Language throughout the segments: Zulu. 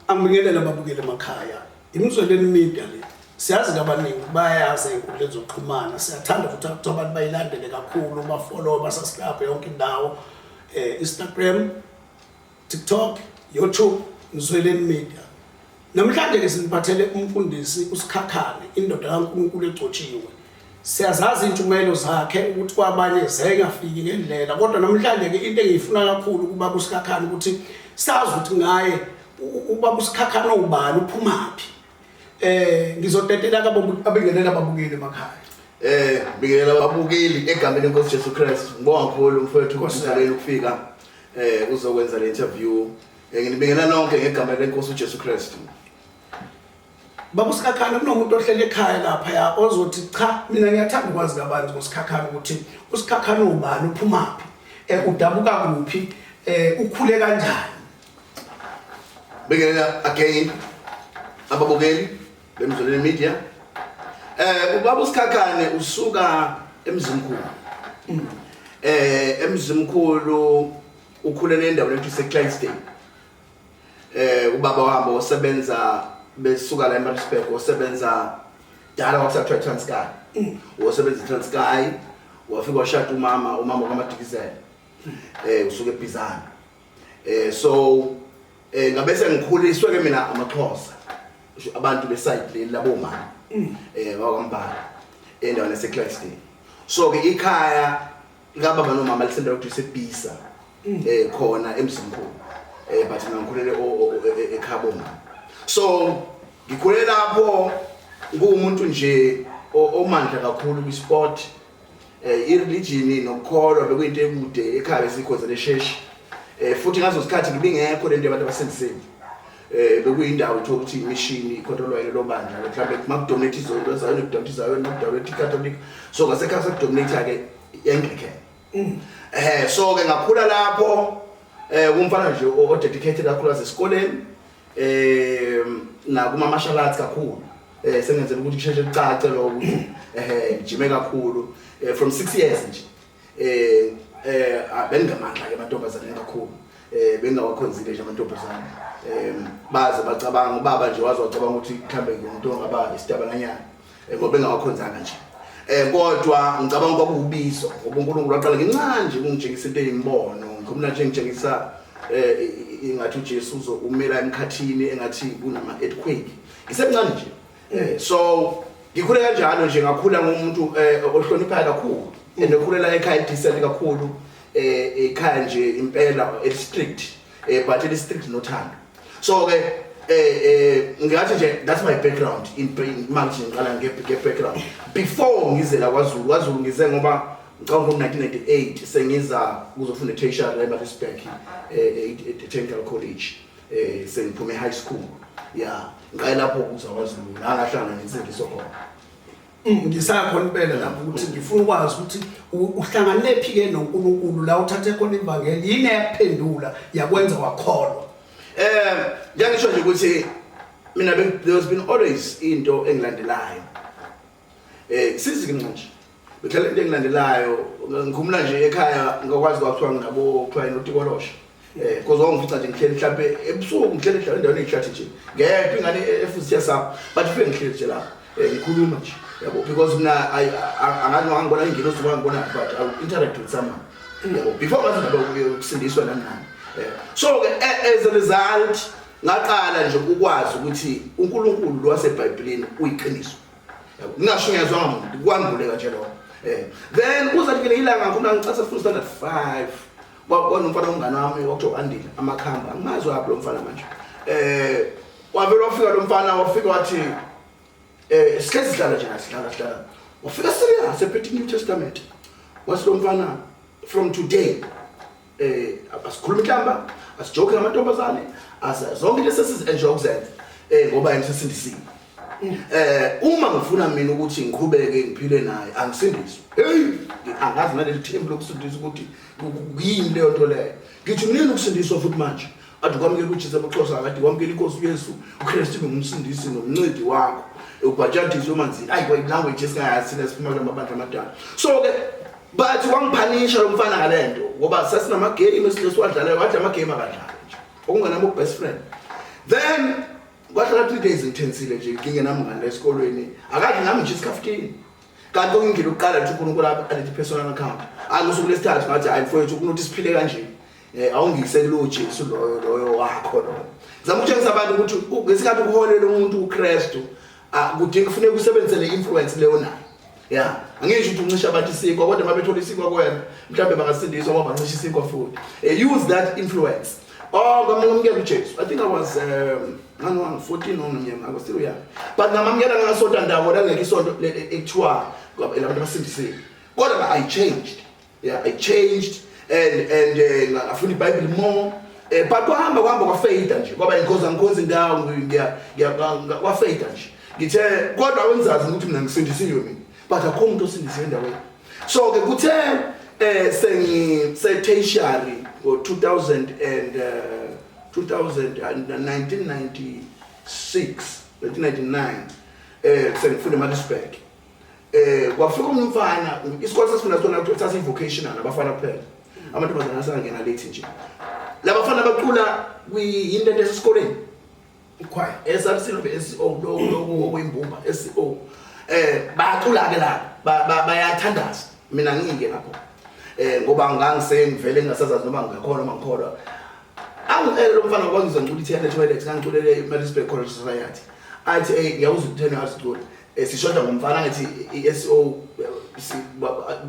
Angibingelele ababukeli emakhaya. Imizweleni media le. Siyazi kabaningi bayayazi inkundla ezokuxhumana. Siyathanda ukuthi akuthiwa abantu bayilandele kakhulu, bafollow, basasikape yonke indawo. Eh Instagram, TikTok, YouTube, Mzweleni Media. Namhlanje ke siniphathele umfundisi uSikhakhane, indoda kaNkulunkulu egcotshiwe. Siyazazi intshumayelo zakhe ukuthi kwabanye zayengafiki ngendlela kodwa namhlanje ke into engiyifuna kakhulu kuba kusikhakhana ukuthi sazi ukuthi ngaye uba kusikhakhana ubani uphumaphi eh ngizodedela kababengelela babukeli emakhaya eh bikela babukeli egameni lenkosi Jesu Christ ngibonga kakhulu mfowethu kusizalela ukufika eh uzokwenza le interview eh, nginibingelela nonke ngegama lenkosi uJesu Christ Baba uSikhakhane kunomuntu ohlele ekhaya lapha ya ozothi cha mina ngiyathanda ukwazi kabanzi ngoSikhakhane ukuthi uSikhakhane ubani uphumaphi eh udabuka kuphi eh ukhule kanjani Bekelela again ababukeli bemzoleni media eh ubaba uSikhakhane usuka emzimkhulu mm. eh emzimkhulu ukhulele endaweni ethi seClydesdale eh ubaba wami osebenza besuka la eMaritzburg osebenza dala wakusathiwa eTranskei mm. wosebenza eTranskei wafika washada umama umama kwaMadikizela eh usuke eBhizana eh so eh ngabe sengikhuliswe ke mina amaXhosa abantu beside leli labo mama mm. eh wakwambala endaweni eseClifton so ke ikhaya Ngaba bano mama lisenda ukuthi sebhisa mm. eh khona emzimkhulu. Eh but mina ngikhulele ekhabo mama. So ngikhulele lapho ngumuntu nje omandla kakhulu kwi sport eh ireligion nokukholwa bekuyinto ekude ekhaya sikhoze lesheshi. Eh futhi ngazo sikhathi ngibingekho lento abantu abasendiseni. eh bekuyindawo uthola ukuthi imishini ikhontrolwa yilo bandla mhlawumbe makudominate izonto zayo nekudominate izayo nekudominate icatholic so ngasekhaya sekudominate ke anglican mm. eh so ke ngakhula lapho eh kumfana nje o dedicated kakhulu esikoleni eh nakuma martial arts kakhulu eh sengenzela ukuthi kusheshe kucace lokho eh ngijime kakhulu eh, from 6 years nje eh eh abengamandla ke amantombazane kakhulu eh bengawakhonzile nje amantombazane eh baze bacabanga ubaba nje wazi wacabanga ukuthi mhlambe umuntu ongaba isitabalanyana eh, ngoba bengawakhonzanga nje eh kodwa ngicabanga ukuba kubizo ngoba uNkulunkulu waqala ngincane nje kungitshengisa into eyimbono ngikhumula nje ngitshengisa eh ingathi uJesu umela emkhathini engathi kunama earthquake ngisemncane nje Eh, so ngikhule kanjalo nje ngakhula ngomuntu eh, ohloniphayo kakhulu and okhulela ekhaya decent kakhulu eh ekhaya nje impela elistrict eh but elistrict nothando so ke eh eh ngathi nje that's my background in pain manje ngiqala nge background before ngize la kwaZulu kwaZulu ngize ngoba ngicabanga ngo 1998 sengiza kuzofunda tertiary eMaritzburg eh, eh technical college eh sengiphume high school ya ngiqale lapho ukuthi akwaZulu la ngahlangana nensindiso khona Mm, ngisakhona impela lapho ukuthi ngifuna ukwazi ukuthi u- uhlanganephi ke noNkulunkulu la uthathe khona imbangeli yini eyakuphendula yakwenza wakholwa Eh njengisho nje ukuthi mina be- there's been always into engilandelayo. Eh sizingi manje. Ngithela into engilandelayo ngikhumula nje ekhaya ngokwazi kwakuthiwa nginabo kuthiwa inotikolosha. Eh koze wangifica nje ngihleli mhlambe ebusuku ngihleli ngihleli endaweni eyihlathi nje. Ngephi ingane efuthi yasapha but fike ngihleli nje lapha. Eh ngikhuluma nje. Yabo because mina angathi ngangibona ingine uzoba ngibona but I will interact with someone. Yabo before ngathi ngaba ukusindiswa nani nani. Eh, so ke eh, as a result ngaqala nje ukwazi ukuthi uNkulunkulu lwaseBhayibhelini uyiqiniso. ngingasho ngiyazwa ngamuntu kwanguleka nje lokho eh, then kuze kufike ilanga ngifuna ngicase full standard 5 kwakona umfana ongane wami kwakuthiwa andile amakhamba angimazi waphi lo mfana manje eh wavele wafika lo mfana wafika wathi eh sike sidlala nje sidlala sidlala wafika serious ephethe new testament wasilomfana from today eh asikhuluma inhlamba asijoke namantombazane zonke into sesizi-enjoy ukuzenza um ngoba yena sesindisile um eh, uma ngifuna mina ukuthi ngiqhubeke ngiphile naye angisindiswe heyi angazi naleli thembu lokusindisa ukuthi yini leyo nto leyo ngithi kunini ukusindiswa futhi manje Ade ukwamukela uJesu amaXhosa akade ukwamukela inkosi uYesu uKristu ngumsindisi nomncedi wakho ubhajadiswe emanzini ayi kwa language esingayazi sina siphuma kula mabandla amadala so ke bathi wangiphanisha lo mfana ngale nto ngoba sasinamagame esile siwadlalayo wathi amagame akadlali nje okungenami ubest friend then kwahlala three days ngithensile nje ngingenami ngale esikolweni akadli nami nje isikhaftini kanti okungile ukuqala ukuthi unkulunkulu abe andithi personal account angusuku lesithathu ngathi hayi mfowethu ukunoti siphile kanjeni Eh awungikiseki lo Jesu loyo loyo wakho lo. Zama ukutshengisa abantu ukuthi ngesikhathi uholela umuntu uKristu kudinga kufanele kusebenzise le influence leyo nayo. Yeah. Angisho ukuthi uncisha abantu isikwa kodwa mabethola isikwa kwena mhlawumbe bangasindiswa ngoba bancisha isikwa futhi. Eh, use that influence. Oh ngamukela uJesu. I think I was um ngani wangu 14 nomnyaka ngako still young. But ngamamukela ngasonto ndawo la ngeke isonto ekuthiwa abantu abasindisiwe. Kodwa I changed. yeah, I changed and and eh, ngafuna uh, iBible more eh but kwahamba kwahamba kwafeyida nje kwaba inkoza ngikhonza indawo ngiya kwafeyida nje ngithe kodwa wenzazi ukuthi mina ngisindisiwe mina but akho umuntu osindisiwe endaweni so ke kuthe eh sengi se tertiary ngo 2000 and uh, 201996 1999 eh sengifunda eMaritzburg eh kwafika umfana isikole sasifunda sona ukuthi sasi vocational abafana kuphela amantombazana asangena late nje labafana bacula kuyinto into esikoleni ikhwaya esabisilo SO lokho okuyimbumba SO eh bacula ke la bayathandaza mina ngike lapho eh ngoba ngangisengivele ngasazazi noma ngikhona noma ngikhona angicele lo mfana kwangizwa ngicula ithenda toilet ngangiculele eMaritzburg College Society athi hey ngiyawuza ukuthena azicula Eh, sishoda ngomfana ngithi i-SO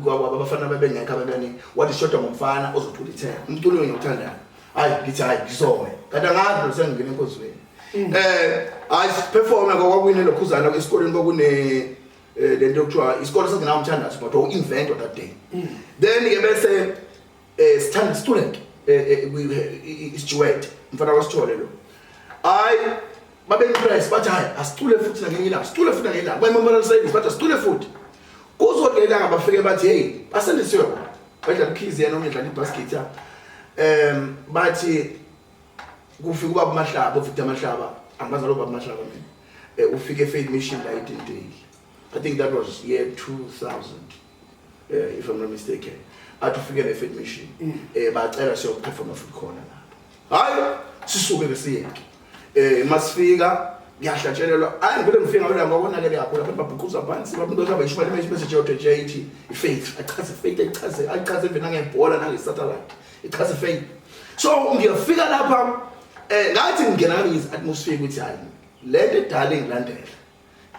abafana babengekho ababeningi wathi sishoda ngomfana ozothula ithena umculo wenye uthandayo hayi ngithi hayi ngisome kanti angazi lo sengingena enkozweni um mm. eh, hayi siperforme kwakwakuyini lokhuzana esikoleni kwakune eh, le nto yokuthiwa isikole sasingenawo umthandazo but wawu-invent that day mm. then-ke bese Eh sithanda student eh, eh, eh, isijuwede mfana wasithole lo. Hayi babe impress bathi hayi asicule futhi nakenye ilanga sicule futhi nakenye ilanga bayimamala service bathi asicule futhi kuzodelela ngabafike bathi hey basendisiwe badla ukhizi yena omedla ibasket ya em bathi kufika ubaba mahlaba ufika mahlaba angazi lo baba mahlaba mina eh, ufike faith mission la idintile i think that was year 2000 eh, if I'm not mistaken athi ufike ne fit mission mm. eh bacela siyo perform futhi khona lapha hayi sisuke ke siyeke eh masifika ngiyahlatshelelwa hayi ngivele ngifika ngabela ngokonakele yakho lapho babhuquza phansi lapho into zaba ishimali manje message yote JT ifaith achaze faith achaze achaze vena ngebhola nange satellite ichaze faith so ngiyafika lapha eh ngathi ngingena ngizi atmosphere ukuthi hayi lento edala engilandela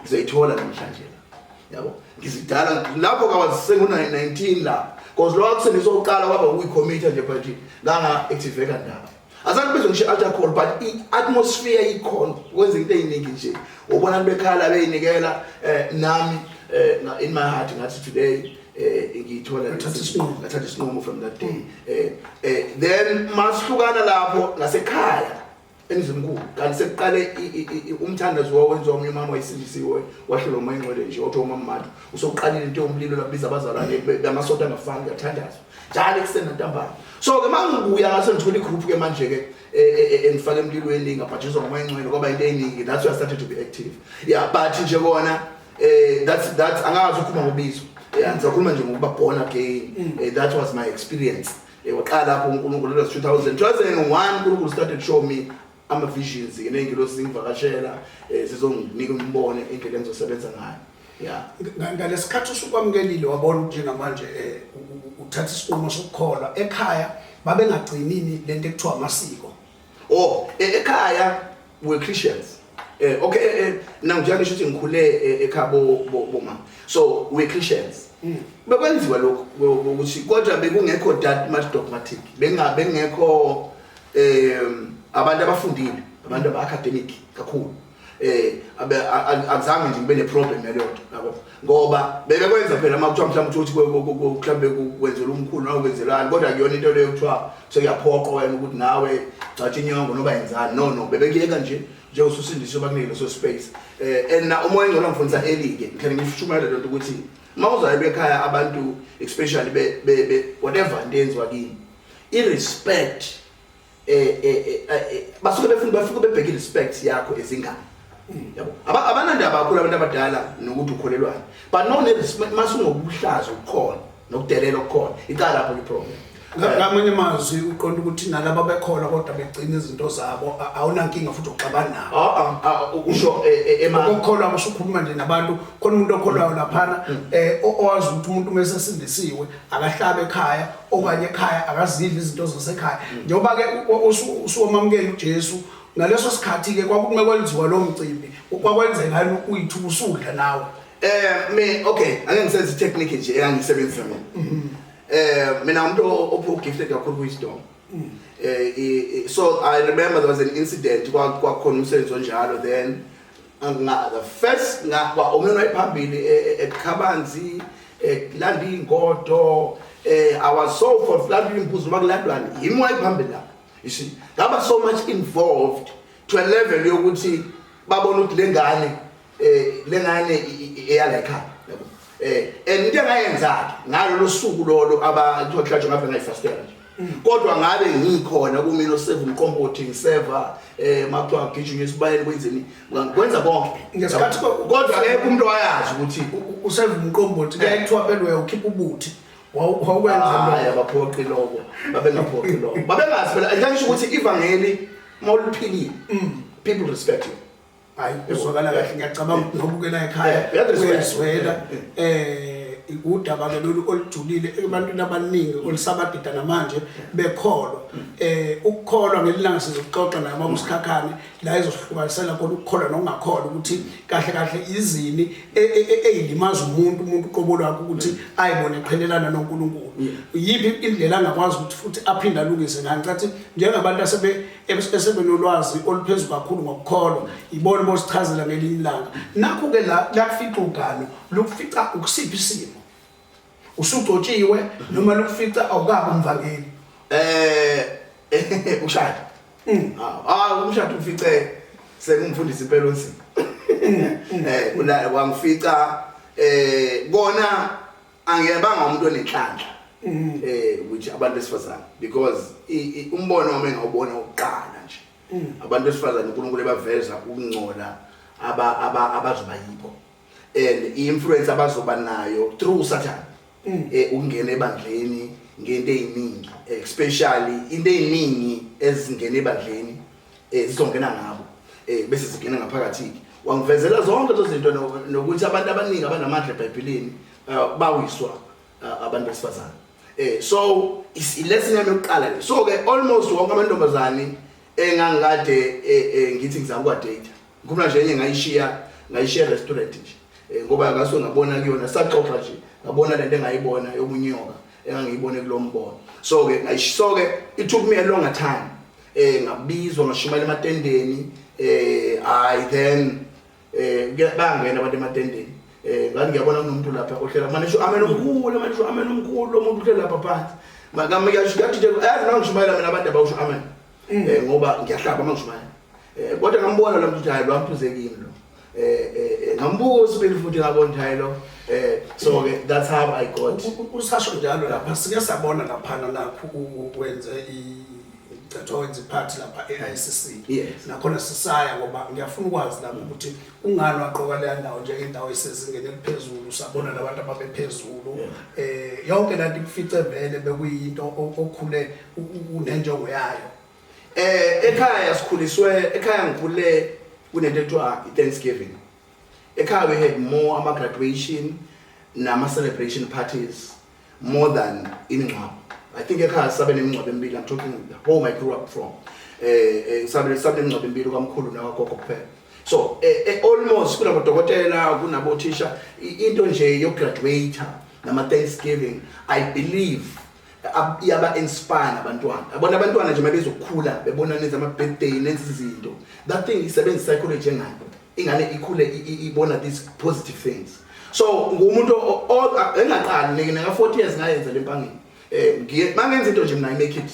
ngizoyithola namhlanje la yabo ngizidala lapho kawazisengu 19 la because lokho kusengisoqala kwaba ukuyicommit nje but nganga active kandaba azange bezwe ngisho alcohol but i-atmosphere ikhona kwenza into eyiningi nje ubona bekhala beyinikela eh, nami eh, in my heart ngathi today eh ngiyithola ngathatha isinqumo ngathatha isinqumo from that day eh, eh then masihlukana lapho ngasekhaya emzimkulu kanti sekuqale umthandazo wawenziwa omunye umama wayisindisiwe wahlelwa umoya engcwele nje othiwa umammathu usokuqalile into yomlilo lakubiza abazalwane bamasonto angafani kuyathandazwa njalo ekuseni nantambama so-ke ma ngibuya ngase ngithole igroup-ke manje-ke e, e, e, engifake emlilweni ngabhajiswa ngomoya engcwele kwaba into eningi that's why i started to be active yeah but nje kona um that's that's angazi ukhuluma ngobizo yeah ngizakhuluma nje ngokuba born again mm. that was my experience Eyoqala lapho uNkulunkulu lesi 2000 2001 uNkulunkulu started show me ama visions ngengilosi zingivakashela eh, zizonginika umbono indlela engizosebenza ngayo. Yeah. Ngalesikhathi usukwamukelile wabona ukuthi njengamanje eh uthatha isinqumo sokukholwa ekhaya babengagcinini lento ekuthiwa amasiko. oh e, ekhaya we Christians eh okay eh, eh now njengoba ngisho ukuthi ngikhule eh, ekhaya bo bo mama so we Christians hmm. bekwenziwa lokho ukuthi kodwa bekungekho that much dogmatic bengabe ngekho eh abantu abafundile abantu aba academic kakhulu eh abe akuzange nje kube neproblem leyo nto yabo ngoba bebe kwenza phela uma kuthiwa mhlawumbe uthi mhlawumbe kwenzela umkhulu noma kwenzelani kodwa kuyona into leyo kuthiwa sekuyaphoqa wena ukuthi nawe gcatsha inyongo noba yenzani no no bebe kuyeka nje njengosusindiswe bakunike leso space eh and na umoya engcono ngifundisa elike ngithanda ngishumayela lento ukuthi uma uzayo bekhaya abantu especially be whatever into yenziwa kini i respect eh eh, eh, eh basuke befuna bafike bebheke respect yakho ezingane hmm. yabo abanandaba kakhulu abantu abadala nokuthi ukholelwayo but no masungokuhlaza ukukhona nokudelela okukhona iqala lapho iproblem ngamanye mazwi uqonda ukuthi nalaba bekhona kodwa begcina izinto zabo awunankinga futhi uxabana nabo ah, ah, ah, usho eh, eh, ema ukukholwa kusho ukhuluma nje nabantu khona umuntu okholwayo laphana mm. eh owazi ukuthi umuntu mesesindisiwe akahlabe ekhaya okanye ekhaya akazidli izinto zasekhaya njengoba ke usuwamamukela uJesu ngaleso sikhathi ke kwakume kwenziwa lo mcimbi kwakwenzeka yini uyithu usudla nawe eh me okay ake ngisenze technique nje engisebenzisa mina mm-hmm. eh mina umuntu ophu gifted kakhulu wisdom mm. eh so i remember there was an incident kwakukhona umsebenzi onjalo then angingaka first ngakwa umyeni wayephambili e, e, ekhabanzi ekulanda iy'ngodo eh our soul for flood imbuzo bakulandwani yimi wayiphambili lapho you see ngaba so much involved to a level yokuthi babona ukuthi lengane eh lengane eyala ekhaya eh and into engayenza ngalolu suku lolo abathiwa kuhlatshwa ngabe ngayifastela nje mm. kodwa ngabe ngikhona kumina oseva umqombothi ngiseva eh makuthiwa ngigijinye esibayeni kwenzeni ngikwenza konke ngesikhathi kodwa ngeke umuntu wayazi ukuthi useva umqombothi eh. kuyakuthiwa belwe ukhipha ubuthi wawukwenza hayi abaphoqi lokho babengaphoqi lokho babengazi phela ngisho ukuthi ivangeli mawuliphilile mm. people respect you hayi uzwakala kahle ngiyacabanga ukuthi nobukela ekhaya uyezwela um udaba ke lolu olujulile ebantwini abaningi olusabadida namanje bekholwa um ukukholwa ngelilanga sizokuxoxa naye uma kusikhakhane la ezohlukanisela khona ukukholwa nokungakholwa ukuthi kahle kahle izini eyilimaza umuntu umuntu uqobo lwakhe ukuthi ayibone qhelelana nonkulunkulu yiphi indlela angakwazi ukuthi futhi aphinde alungise ngayo ngicathi njengabantu asebe esebenolwazi oluphezulu kakhulu ngokukholwa yibona bosichazela ngelinye ilanga nakho-ke la lakufica ugalo lukufica ukusiphi isimo usugcotshiwe noma lukufica awukabi umvangeli um ushada mm. hayi ah, umshado ufice sengumfundisi impela onzima um mm. eh, wangifica um kona angiyebanga umuntu onenhlanhla mm. eh ukuthi abantu besifazane because umbono wami ngawubona ukuqala nje mm. abantu besifazane uNkulunkulu ebaveza ukungcola aba aba abazoba yibo and influence abazoba nayo through satan mm. eh ungena ebandleni ngento eziningi especially into eziningi ezingena ebandleni eh zizongena ngabo eh bese zingena ngaphakathi wangivezela zonke lezo zinto nokuthi abantu abaningi abanamandla eBhayibhelini eh, bawiswa eh, abantu besifazane eh so is lesson yami yokuqala le so ke almost wonke amantombazane engangikade eh, ngithi ngizama kwa date ngikhuluma nje enye ngayishiya ngayishiya restaurant nje ngoba ngasuke ngabona kuyona saxoxa nje ngabona lento engayibona yokunyoka engangiyibone kulombono so ke ngayishisoke it took me a longer time eh ngabizwa ngashumayela ematendeni eh i then eh bangena abantu ematendeni eh ngani ngiyabona kunomuntu lapha ohlela manje sho amen omkhulu manje sho amen omkhulu umuntu uhlela lapha phansi makama yasho yathi nje yazi nami ngishumayela mina abantu abawusho amen mm. eh ngoba ngiyahlaba mangishumayela eh kodwa ngambona lo muntu hayi lwamphuzekile lo eh, eh, eh ngambuka usibili futhi ngabonjaye lo eh so ke that's how i got usasho njalo lapha sike sabona lapha nakho ukwenze i thatha wenza iphathi lapha e-ICC nakhona sisaya ngoba ngiyafuna ukwazi lapho ukuthi ungani waqoka leya ndawo njengendawo esezingeni eliphezulu sabona nabantu ababephezulu um eh, yonke lanto ikufice vele bekuyinto okhule unenjongo yayo Eh ekhaya sikhuliswe ekhaya ngikhule kunento ekuthiwa i-Thanksgiving. Ekhaya we had more ama graduation nama celebration parties more than imingcwabo. I think ekhaya sabe nemingcwabo emibili I'm talking the home I grew up from. Eh eh sabe sabe nemingcwabo emibili kwamkhulu nawagogo kuphela. So eh, eh almost kunabo dokotela kunabo thisha into nje yokugraduate nama Thanksgiving I believe iyaba inspire abantwana abona abantwana nje mabezokhula bebona nenza ama birthday nenza izinto that thing isebenza psychology engane ingane ikhule ibona these positive things so ngumuntu engaqali ngeke naka 40 years ngayenza lempangeni eh ngiye mangenza into nje mina i make it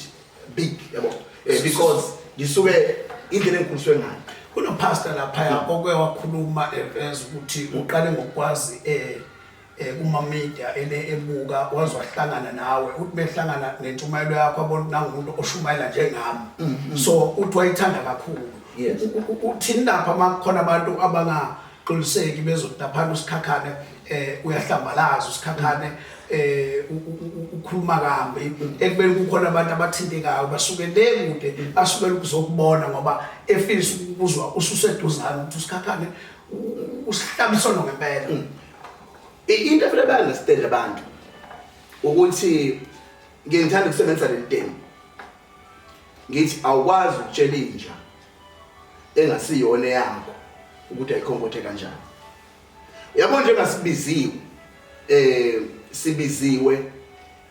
big yabo eh, because ngisuke indlela engikhuliswe ngayo kunopastor lapha oke wakhuluma eveza ukuthi uqale ngokwazi eh eh, kuma media ele ebuka waze wahlangana nawe uthi behlangana nentshumayelo yakho abona ukuthi nangumuntu oshumayela njengami mm-hmm. so uthi wayithanda kakhulu Yes. U- u- u- uthini lapha uma kukhona abantu abangaqiniseki bezodaphana usikhakhane eh uyahlambalaza usikhakhane eh u- u- u- ukhuluma kambi ekubeni kukhona abantu abathintekayo basuke le kude basukela ukuzokubona ngoba efisa ukuzwa ususeduzane ukuthi usikhakhane u- u- usihlaba isono ngempela into efuna ba-understand abantu ukuthi ngiye ngithanda ukusebenzisa leli temu ngithi awukwazi ukutshela inja engasiyona eyakho ukuthi ayikhonkothe kanjani yabo nje ngasibiziwe eh sibiziwe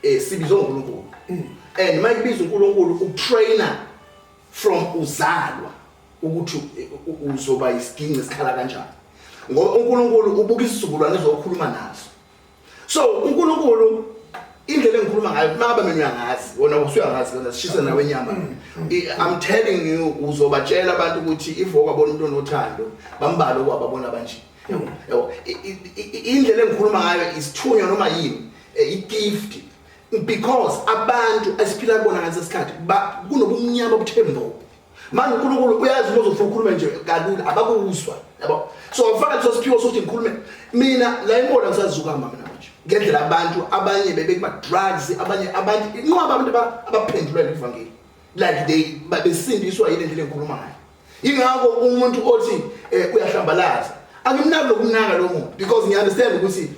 eh sibizwe uNkulunkulu mm. and mayibizwa uNkulunkulu utrainer from uzalwa ukuthi uzoba isiginci esikhala kanjani ngoba uNkulunkulu ubuka isizukulwane ezokhuluma naso so uNkulunkulu indlela engikhuluma ngayo makabe mina uyangazi wona usuyangazi wena sishise nawe inyama mm. i'm telling you uzobatshela abantu ukuthi ivoka bona umuntu onothando bambalo kwababona banje mm. yabo indlela engikhuluma ngayo isithunywa noma yini eh, i gift because abantu esiphila kubona ngesikhathi kunobumnyama obuthembo manje unkulunkulu uyazi uma uzofuna ukhulume nje kalula abakuzwa yabo so ngifaka leso siphiwo sokuthi ngikhulume mina la imona ngisazukamba mina manje ngendlela abantu abanye bebekuma-drugs abanye abantu inqoba abantu abaphendulele ivangeli like they besindiswa yile ndlela engikhuluma ngayo ingakho umuntu othi um eh, uyahlambalaza angimnaki lokumnaka lo muntu because ngiunderstand ukuthi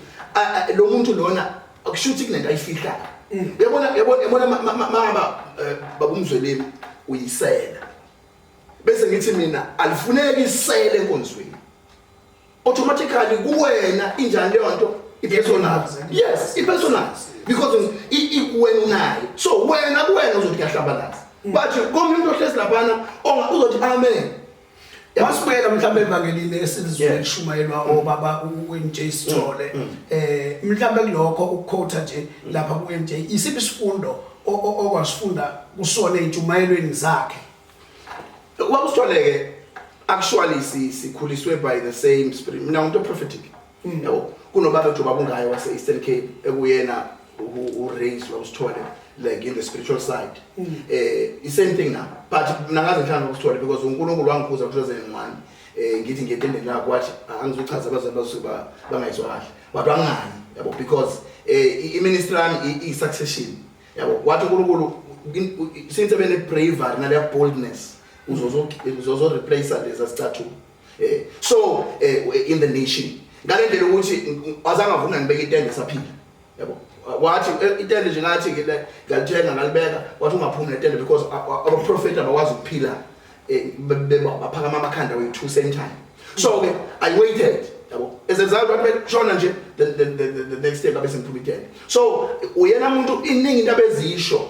lo muntu lona akusho ukuthi kunento ayifihlayo mm. yabona yabona yabona mama eh, babumzweleni uyisela bese ngithi mina alifuneki isele enkonzweni automatically kuwena injani leyo nto i-personal yes i-personal because ikuwena unayo so wena kuwena uzothi kuyahlambalaza mm. but komunye umuntu ohlezi laphana onga uzothi amen Masibuyela mhlawumbe evangelini esilizwe elishumayelwa obaba uNJ Sithole mm, mm. eh mhlawumbe kulokho ukukhotha nje lapha kuNJ isiphi isifundo okwasifunda kusona ezintshumayelweni zakhe Ubaba Sithole ke actually sikhuliswe by the same spirit mina umuntu prophetic Yabo, kunobaba nje obabungayo wase-Eastern Cape ekuyena u-raise wawusithole like in the spiritual side um i-same thing now but mna ngaze ngithanda ukusithole because unkulunkulu wangikhuza ngo-two thousand and one um ngithi ngiyetendeni lakho wathi angizuchaza abazali basuke bangayizwa kahle but wangani yabo because um iministry yami i-succession yabo wathi unkulunkulu since ebene-bravery naleya boldness uzozoreplace lezi asicathuka eh so eh, in the nation ngalendlela ukuthi azange avuna ngibeke itende saphila yabo wathi eh, itende nje ngathi ke ngalithenga ngalibeka wathi ungaphumi netende because aba prophet abakwazi ukuphila eh, baphakama amakhanda we two same time so ke i waited yabo ezenzalo wathi bekushona nje the next day babe sengiphuma itende so uyena umuntu iningi into abezisho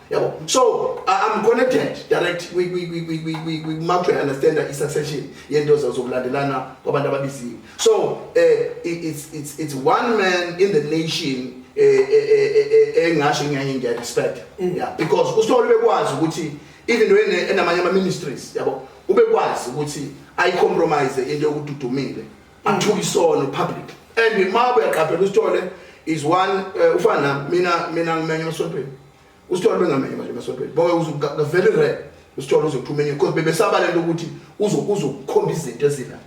yabo so uh, i'm connected direct kwi-mouth i understand i-succession yento zokulandelana kwabantu ababiziwe so uh, it's, it's, it's one man in the nation engasho ngiyaye ngiyarespect mm. yeah because usithole bekwazi ukuthi even when enamanye ama ministries yabo ubekwazi ukuthi ayicompromise into yokududumile athuka isono public and uma uyaqaphela usithole is one uh, ufana nami mina mina ngimenye emasontweni usithole bengamenye manje emasontweni bonke uzukavele re usithole uzothumenya because bebesaba lento ukuthi uzokukhomba izinto ezila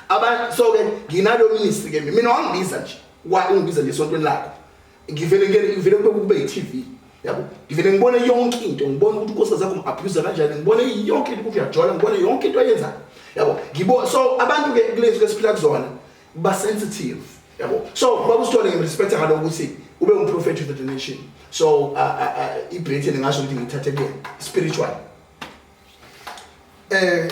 aba so ke nginalo ministry ke mina wangibiza nje wa ungibiza nje esontweni lakho ngivele ngene ngivele kube kube yiTV yabo ngivele ngibone yonke into ngibone ukuthi inkosi zakho ngiabuser kanjani ngibone yonke into ukuthi uyajola ngibone yonke into ayenzayo yabo ngibo so abantu ke kulezi ke siphila kuzona ba sensitive yabo so babusithole ngimrespect ngalo ukuthi ube umprofethi of the nation so uh, uh, uh, ibhethe ningasho ukuthi ngithathe kuyena spiritual eh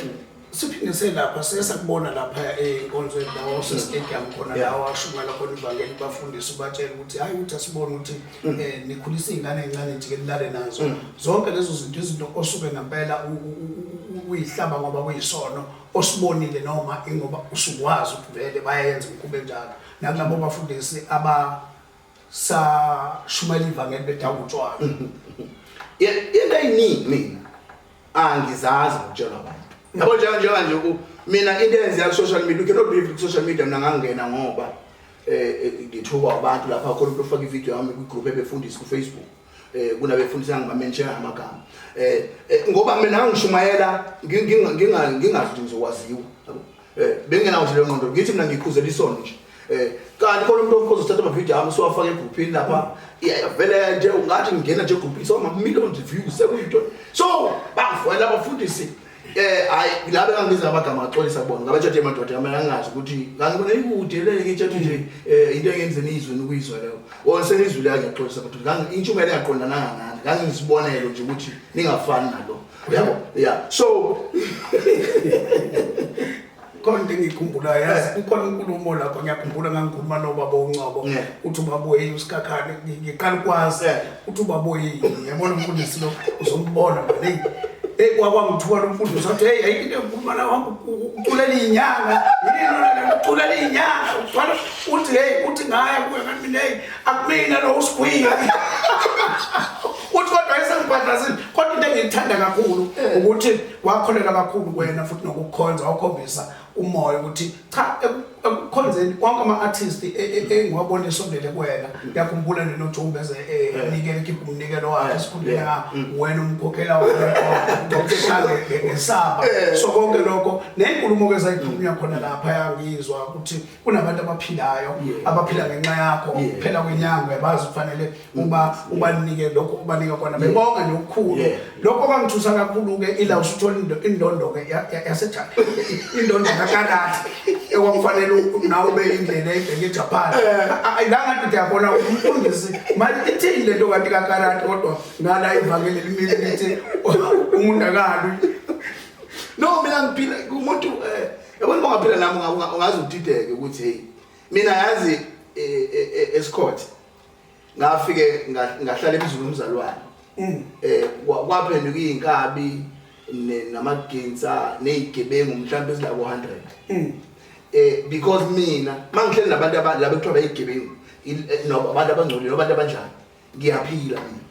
siphinde selapha sesakubona lapha enkonzweni lawo osestadium khona lawo ashumayela khona ivangeli bafundisi ubatshela ukuthi hhayi ukuthi asibone ukuthi um nikhulisa iy'ngane ey'ncane njike nilale nazo mm. zonke lezo zinto izinto osuke ngempela uyihlaba ngoba kuyisono osibonile noma ingoba usukwazi ukuthi vele bayayenza umkhube njalo nakulabo bafundisi aba sashumayela ivangeli bedawula utshwala into eyiningi mina angizazi ngitshelwa abantu yabo njenga njenga nje ku mina into eyenziya ku-social media ukhe nobelieve ku-social media mina ngangena ngoba um ngithuka abantu lapha khona umuntu ofaka ividiyo yami kwigroup ebefundisi kufacebook um kunabefundisa ngibamensheya amagama um ngoba mina ngangishumayela ngingazi ukuthi ngizokwaziwa eh bengenawo nje lengqondo ngithi mina ngikhuzela isono nje eh kanti khona umuntu ozothatha ama video ami siwafaka egrouphini lapha iyavela nje ungathi ngingena nje egrouphini so ma millions views sekuyinto so bafwela abafundisi eh hayi labe kangibiza amagama axolisa kubona ngabathathe emadoda yami angazi ukuthi ngangibona ikude le ngitshathe nje eh into engenze nizwe nokuyizwa leyo or senizwile ngiyaxolisa kodwa ngangi intshumayelo yaqondananga nani ngangizibonelo nje ukuthi ningafani nalo uyabo yeah so khona into engiyikhumbulayo yazi kukhona inkulumo lapho ngiyakhumbula ngangikhuluma nobaba uncobo uthi ubaboyini usikhakhane ngiqala ukwazi uthi ubaboyini yabona umfundisi lo uzombona mane eyi kwakwangithuka lo mfundisi athi heyi ayikho into engikhuluma la wami uculela iy'nyanga uculela iy'nyanga uthwala uthi heyi uthi ngaya kuye kanti mina heyi akumina lo usigwile uthi kodwa esengibhadlasile kodwa into engiyithanda kakhulu ukuthi wakholelwa kakhulu kwena futhi nokukhonza wakhombisa umoya ukuthi cha ekukhonzeni wonke ama-artist e, e, e, engiwabona esondele kuwena ngiyakhumbula nenojumbe eze enikele khipha umnikelo wakhe esikhundleni nga mm. wena umkhokhela ngesaba so konke lokho nenkulumo ke zayiphumya khona mm. lapha yangizwa ukuthi kunabantu abaphilayo abaphila ngenxa yakho phela kwenyanga uyabazi kufanele uba ubanike lokho ubanika kona bebonga nje okukhulu lokho kwangithusa kakhulu-ke ila usuthola indondo-ke yasejane indondo kakarati ekwakufanele nawe ube indlela ebheke ejapan eh. la ngathi ndiyabona umfundisi manje ithini le nto kanti kakarati kodwa ngala ivangeli limile lithi umuntu akalwi no mina ngiphila umuntu um eh, yabona uba ngaphila nami ungaze udideke ukuthi heyi mina yazi eh, esikhothe ngafike ngahlala emzini womzalwane mm. eh kwaphenduka izinkabi namaginsa nezigebengu mhlawumbe ezila ku 100 mm. eh because mina mangihleli nabantu abalabo ekuthiwa bayigebengu eh, abantu abangcolile abantu abanjani ngiyaphila mina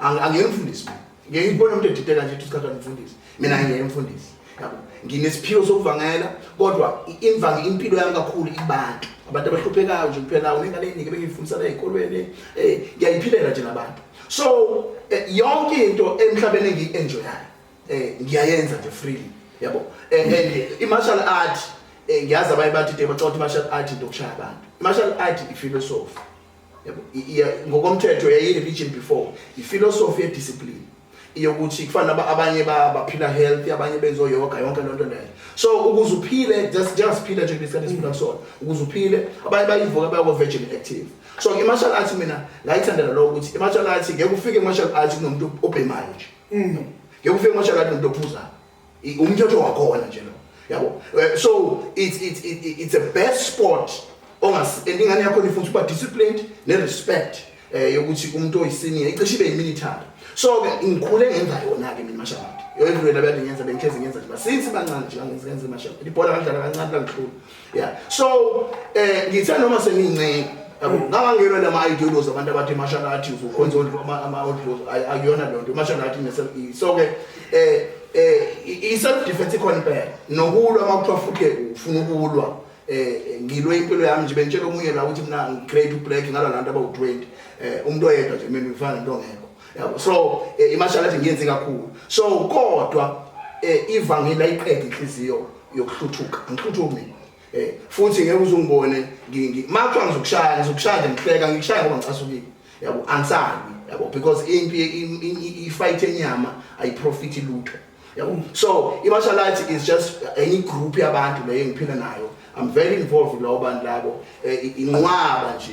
angiyena umfundisi ngeke ngibone umuntu edideka nje isikhathi anifundisi mina ngiyena umfundisi yabo nginesiphiwo sokuvangela kodwa imvange impilo yami kakhulu ibantu abantu abahluphekayo nje kuphela unengane eningi bengiyifundisana ezikolweni eh ngiyayiphilela nje nabantu so eh, yonke into emhlabeni engiyi-enjoyayo eh ngiyayenza nje freely yabo eh, and i-martial art eh, ngiyazi abaye bathi de bacotha i-martial art into okushaya abantu i-martial art ifilosofi ngokomthetho yayi-religion before ifilosofi yediscipline iyokuthi kufana abanye baphila healthy abanye benza oyoga yonke loo nto leyo so ukuze uphile njengasiphile nje kulesikhathi esiphila kusona ukuze uphile abanye bayivuka bayako-virgin active so i-martial arts mina ngayithandela loko ukuthi i-martial arts ngeke ufike i-martial arts kunomuntu obhemayo nje mm. ngeke ufike i-martial arts nomuntu ophuzayo I- umthetho wakhona nje lo yabo Eh, so it's, it's, it's, it's a best sport ongas and ingane yakho nifundisa uba disciplined ne-respect um yokuthi umuntu oyisiniya icishe ibe yimini ithanda so-ke ngikhule ngenza yona-ke mina mashamati everywhere labe ngiyenza bengihlezi ngenza nje since bancane nje kangenza ngenza mashamati ibhola ngadlala kancane langihlula yeah so eh ngithe noma sengincinci yabo ngangangena lama ideologies abantu abathi martial arts ukhonza ama audios ayiyona lento martial arts ne self so ke eh eh i self defense ikhona impela nokulwa makuthiwa futhi ufuna ukulwa eh ngilwe impilo yami nje bentshela omunye la ukuthi mina ngigrade ublack ngala lantu abawu 20 eh umuntu oyedwa nje mina ngifana into ngekho yabo so eh, i martial arts ngiyenze kakhulu so kodwa eh ivangeli ayiqede inhliziyo yokuhluthuka ngihluthuka mina eh futhi ngeke uzungibone makuthiwa ngizokushaya ngizokushaya nje ngihleka ngikushaya ngoba ngicasukile yabo angisabi yabo because impi i-fight enyama ayiprofit lutho yabo so i-martial arts is just any group yabantu leyo engiphila nayo i'm very involved lawo bantu labo eh, inqwaba nje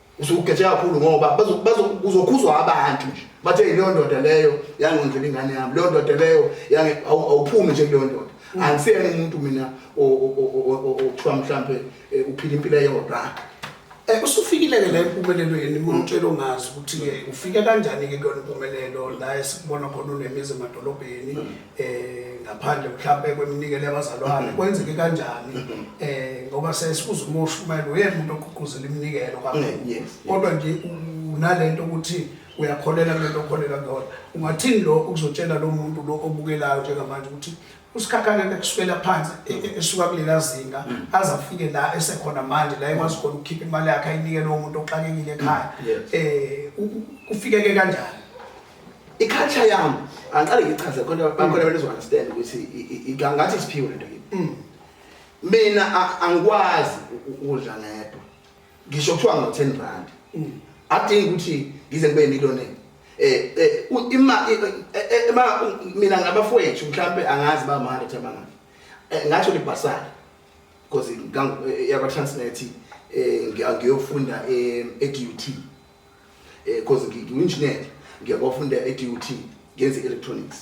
usugeje kakhulu ngoba kuzokhuzwa abantu nje bathe yileyo ndoda leyo yangondlela ingane yami leyo ndoda leyo awuphumi nje kuleyo ndoda mm. angisiyena umuntu mina okuthiwa mhlawumbe eh, uphila impilo eyodwa um eh, usufikile-ke la empumelelweni umtshela ongazi ukuthi-ke ufike kanjani-ke kuyona impumelelo la esibona khona unemizi emadolobheni mm. eh ngaphandle mhlawumbe kweminikelo yabazalwane kwenzeke kanjani eh ngoba sesikuza umushumayelo uyemuntu oququzela iminikelo kakhulu Yes. kodwa nje unalento ukuthi uyakholela kulento okholela kuyona ungathini lo ukuzotshela lo muntu lo obukelayo njengamanje ukuthi usikhakhane into ekusukela phansi e- e- esuka kulela zinga aze afike la esekhona manje la ekwazi khona ukukhipha imali yakhe ayinikele umuntu oxakekile ekhaya Yes. eh u- u- kufikeke kanjani i-culture yami angiqale ngichaze khona bakhona abantu ezo-understand ukuthi ngathi isiphiwo lento kimi mm. mina angikwazi ukudla ngedwa ngisho kuthiwa ngo-ten rand mm. adingi ukuthi ngize ngibe yimiloneni um ima e, e, e, mina ngabafowethu mhlawumpe angazi bama-hundred abangaki Eh, ngatsho libhasari because yakwa-transnet um eh, ngiyofunda e-dut eh because nginginjinela ngiyabafunda eDUT ngenze electronics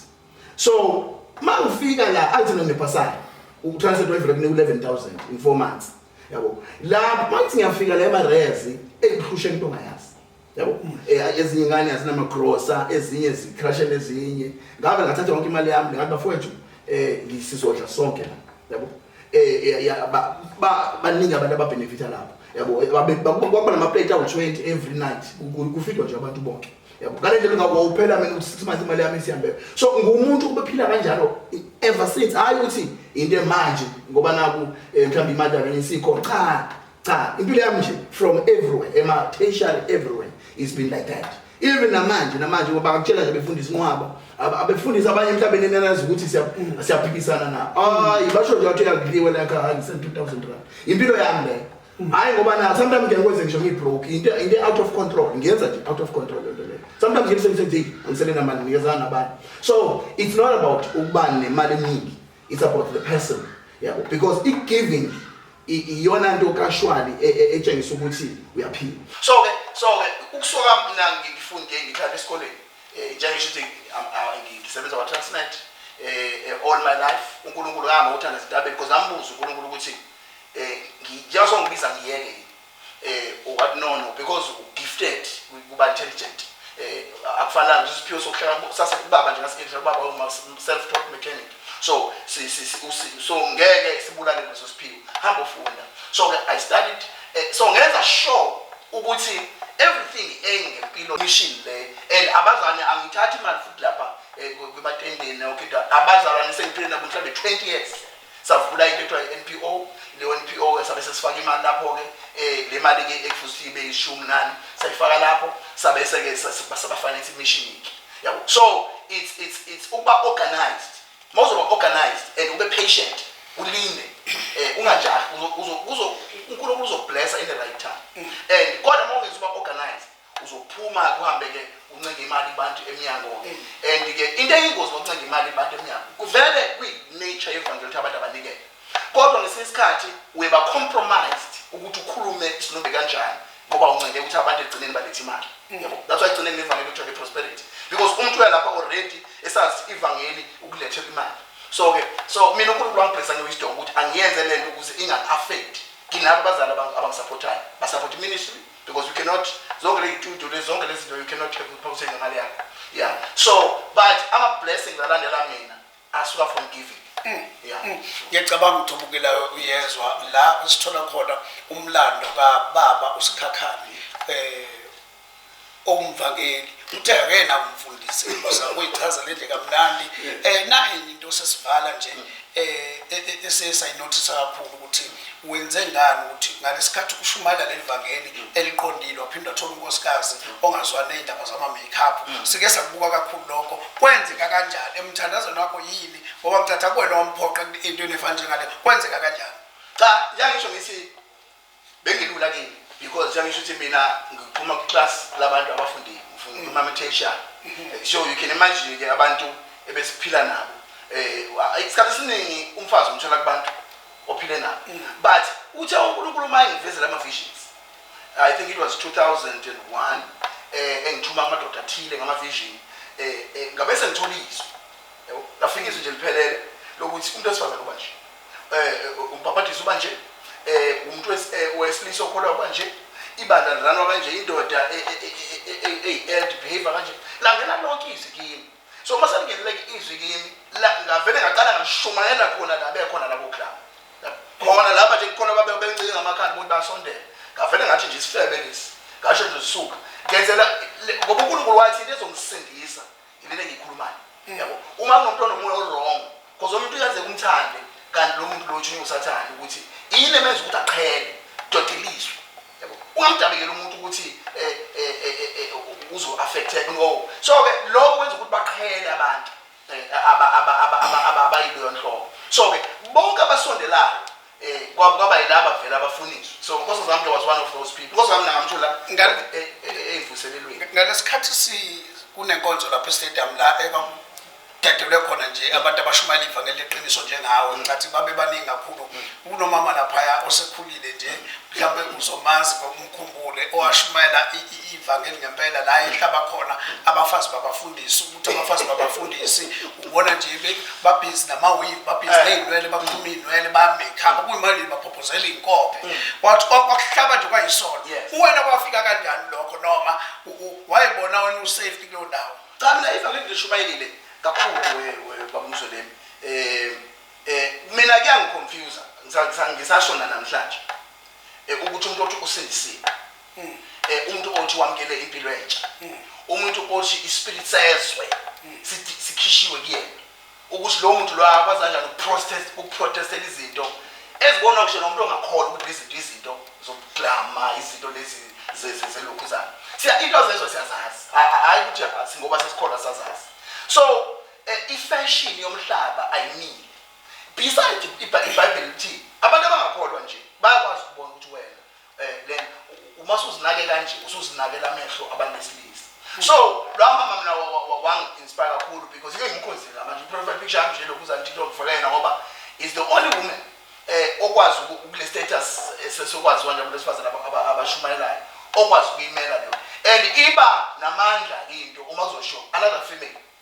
so mangifika la athi none pasali ukutranslate wayivela kune 11000 in 4 months yabo lapho manje ngiyafika la emarezi engihlushe into ngayazi yabo eh, ezinye ingane azinama grocer ezinye zicrashe nezinye ngabe ngathatha yonke imali yami ngathi bafowethu eh ngisizodla sonke la yabo eh, eh baningi abantu ababenefitha lapho yabo kwakuba namaplate awu-20 every night kufidwa nje abantu bonke yabo ngale ndlela ungawuphela mina ukuthi six months imali yami isihambele so ngumuntu ubephila kanjalo ever since hhayi ukuthi into emanje ngoba naku um mhlawumbe imali yami isikhona cha cha impilo yami nje from everywhere ema tertiary everywhere it's been like that even namanje namanje ngoba akutshela nje befundisa inqwaba abefundisa abanye emhlabeni enanazi ukuthi siyaphikisana na hayi basho nje wathi yakudliwe la ka hangi sen 2000 rand impilo yami le mm. hayi ngoba na sometimes ngeke kwenze ngisho ngibroke into into out of control ngiyenza nje out of control lento le sometimes ngimsebenze nje angisele namali ngikezana nabani so it's not about ukubani nemali eningi it's about the person yabo yeah, because i-giving iyona nto kashwali e, e, etshengisa ukuthi uyaphila so ke so ke ukusoka mina ngifunde ngihlala esikoleni eh, njengisho ukuthi ngisebenza kwa-transnet um eh, eh, all my life unkulunkulu ngahamba uthanda ezintabeni because ngambuza unkulunkulu ukuthi um njengaso ngibiza ngiyeke eh or what no no because u gifted kuba intelligent eh akufanele nje isiphiwo sokuhlala sase kubaba nje ngasikhetha ubaba uma self taught mechanic so si si so ngeke sibulale leso siphiwo hamba ufunda so ke i studied eh, so ngenza sure ukuthi everything engempilo mission le and abazane angithathi imali futhi lapha eh, kwebatendeni okay abazalwane sengiphilela mhlawumbe 20 years savula into ekuthiwa i-NPO leyo NPO ke sabe sesifaka imali lapho ke eh le mali ke ekufuze ibe ishumi nani sayifaka lapho sabe seke saba finance mission ke yabo so it's it's it's ukuba organized mawuzoba organized and ube patient ulinde eh ungajahi uzo uzo uNkulunkulu uzoblessa in the right time and kodwa mawungezi uba organized uzophuma ke uhambe ke uncenga imali kubantu emnyango ke and ke into eyingozi ngokuncenga imali kubantu emnyango kuvele kwi-nature yevangeli ukuthi abantu abanikele kodwa ngesinye isikhathi uyeba compromised ukuthi ukhulume isinumbe kanjani ngoba uncenge ukuthi abantu egcineni balethe imali mm. yabo that's why egcineni nevangeli kuthiwa i-prosperity because umuntu uyalapha already esazi ivangeli ukulethela imali so ke so mina unkulunkulu wangibhekisa ngewisdom ukuthi angiyenze le nto ukuze inga-affect nginabo abazali abangisapothayo basapotha iministry because you cannot zonke le itudio le zonke lezinto you cannot have uphaphuse ngemali yakho yeah so but ama blessings alandela mina asuka from giving mm. yeah mm. ngiyacabanga ukuthi ubukela uyezwa la sithola khona umlando ka baba usikhakhani eh owumvangeli uthe akena umfundisi ngosa uyichaza lendle kamnandi eh nayi into sesivala nje mm. esiye sayinothisa kakhulu ukuthi wenze ngani ukuthi ngalesikhathi ushumayela leli vangeli eliqondile waphinde wathola unkosikazi ongazwani ney'ndaba zama-makeup mm. sike sakubuka kakhulu lokho kwenzeka kanjani emthandazweni wakho yini ngoba ngicatha kuwena wamphoqa into enefana njengale kwenzeka kanjani cha yangisho ngithi Bengilula kimi because njengisho ukuthi mina ngiphuma kwiclass labantu abafundile ngifuna mm. umamethesha mm-hmm. so you can imagine ke abantu ebesiphila nabo eh isikhathi esiningi umfazi umthola kubantu ophile nabo mm. but uthe uNkulunkulu uma engivezela ama visions i think it was 2001 eh engithuma amadoda athile ngama vision eh, eh ngabe sengithola izwi yabo lafika izwi nje liphelele lokuthi umuntu osifazana uba nje umbhabhadiso uba nje um umntu wesilisa okholwa uba nje ibandla liranwa kanje indoda eyi-eld behavior kanje langena lonke izwi kimi so uma selingeneleke izwi kimi ngavele ngaqala ngashumayela khona la bekhona labo club khona laba nje kukhona babencike ngamakhanda ukuthi basondele ngavele ngathi nje isifebe lesi ngasho nje zisuka ngenzela ngoba unkulunkulu wathi into ezongisindisa Yilena engiyikhulumayo. Mm. Yabo. Uma kunomuntu onomoya owrong, because omuntu uyenzeka umthande kanti lo muntu lo utshunywa usathane ukuthi yini emenza ukuthi aqhele dodeliswe. Yabo. Ungamdabekeli umuntu ukuthi eh eh eh, eh, eh uzo affected no. So ke lokho kwenza ukuthi baqhele abantu eh, aba aba aba aba abayileyo nhlobo. So ke bonke abasondelayo Eh, kwabo kwaba yilaba vele abafuniswa. So Nkosi Zamke was one of those people. Nkosi Zamke ngamthola ngale eh, eh, evuselelweni. Ngalesikhathi si kunenkonzo lapha e-stadium la ekwaku dedelwe khona nje abantu abashumayela ivangeli leqiniso njengawe ngathi babe baningi kakhulu kunomama laphaya osekhulile nje mhlawumbe uzomazi ngokumkhumbule owashumayela ivangeli ngempela la ehlaba khona abafazi babafundisi ukuthi abafazi babafundisi ubona nje be- babhizi namawili babhizi Eh. ney'nwele bakhuluma iy'nwele bayamekhapa kuyimanje baphophozela iy'nkobe kwathi kwa- kwakuhlaba nje kwayisona Mm. Yes. uwena kwafika kanjani lokho noma u- u- wayebona wena usafety kuleyo ndawo cha mina ifa ngeke ngishumayelile kakhulu we- we- babumsolemi um um mina kuyangiconfusa ngisashona namhlanje um ukuthi umuntu othi usindisiwe eh umuntu othi wamkele impilo entsha umuntu othi ispirit sezwe sithi- sikhishiwe kuyena ukuthi lo muntu lo akwazi kanjani ukuprotest- ukuprotestela izinto ezibona kusho nomuntu ongakholwa ukuthi izinto izinto zokuklama izinto lezi ze- ze- zelokhuzana siya into zezwe siyazazi Ha- ha- hhayi ukuthi ha- singoba sesikholwa sazazi so eh, ifashion yomhlaba ayimile beside ibha- ibhayibheli lithi abantu abangakholwa nje bayakwazi ukubona ukuthi wena eh le uma usuzinake kanje usuzinakela amehlo abantu besilisa so lwa mama mina wa- wa- wa- wangi-inspire kakhulu because ngeke ngimkhonzile manje i-profile picture yami nje lokhu uzanti into ngifaka yena ngoba is the only woman eh okwazi uku- ukule status esesokwazi wanje abantu besifazane aba- aba- abashumayelayo okwazi ukuyimela leyo and iba namandla into uma uzosho another female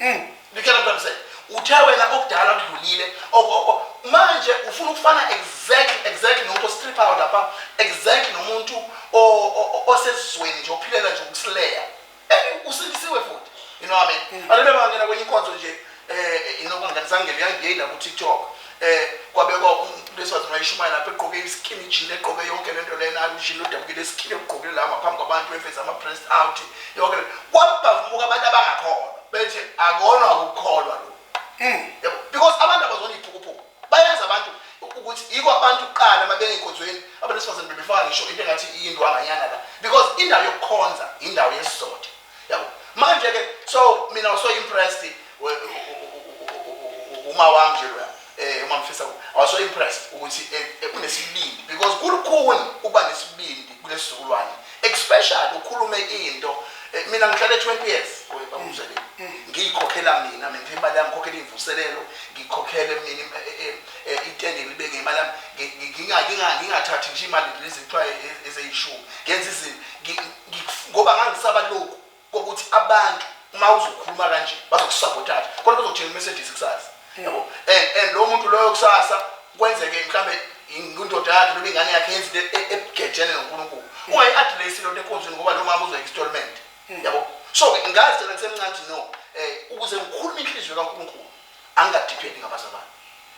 Mm. Ngitshela mntwana mse uthe wena okudala kudlulile Oko- oko. manje ufuna ukufana exactly exactly nomuntu ostriphayo lapha exactly nomuntu o- o- o- osezweni nje ophilela nje ukusileya Eh, usindisiwe futhi you know what I mean Mm. abantu bebangena kwenye inkonzo nje um inokunganisangeli yangeyina ku-tiktok eh kwabekwa umuntu besazi mayishumayela lapha egqoke iskinny jean egqoke yonke lento lena ujini odabukile eskinny egqokile la ngaphambi kwabantu eveza ama breast out yonke le kwabavuka abantu abangakholwa bethi akona ukukholwa lo mm. yabo because abantu abazona iphukuphuku bayazi abantu ukuthi yiko abantu kuqala mabengenkonzweni abantu besifazane bebefaka ngisho into engathi iyindwanganyana la because indawo yokukhonza indawo yesizotha yabo manje ke so mina waso impressed uma wami nje loya eh uma ngifisa waso impressed ukuthi eh, eh, unesibindi because kulukhuni ukuba nesibindi kulesizukulwane especially ukhulume into eh, mina ngihlale 20 years bamuzele mm, mm. ngiyikhokhela mina mina imali yami ngikhokhela imvuselelo ngikhokhele mina itende libeke imali yami ngingathathi nje imali lezi kuthiwa ezeyishumi ngenza izinto ngoba ngangisaba lokhu kokuthi abantu uma uzokhuluma kanje bazokusabotaja kodwa bazokutshela i-messages kusasa hmm. yabo and and lo muntu loyo kusasa kwenzeke mhlambe indoda yakhe noma ingane yakhe yenza into e-, ebugejene noNkulunkulu hmm. ungayi-address lento enkonzweni ngoba lo mama uzoyi-installment hmm. yabo so ngazi thena ngisemncane no um ukuze ngikhulume inhliziyo kaNkulunkulu angadiphendi ngabazalwane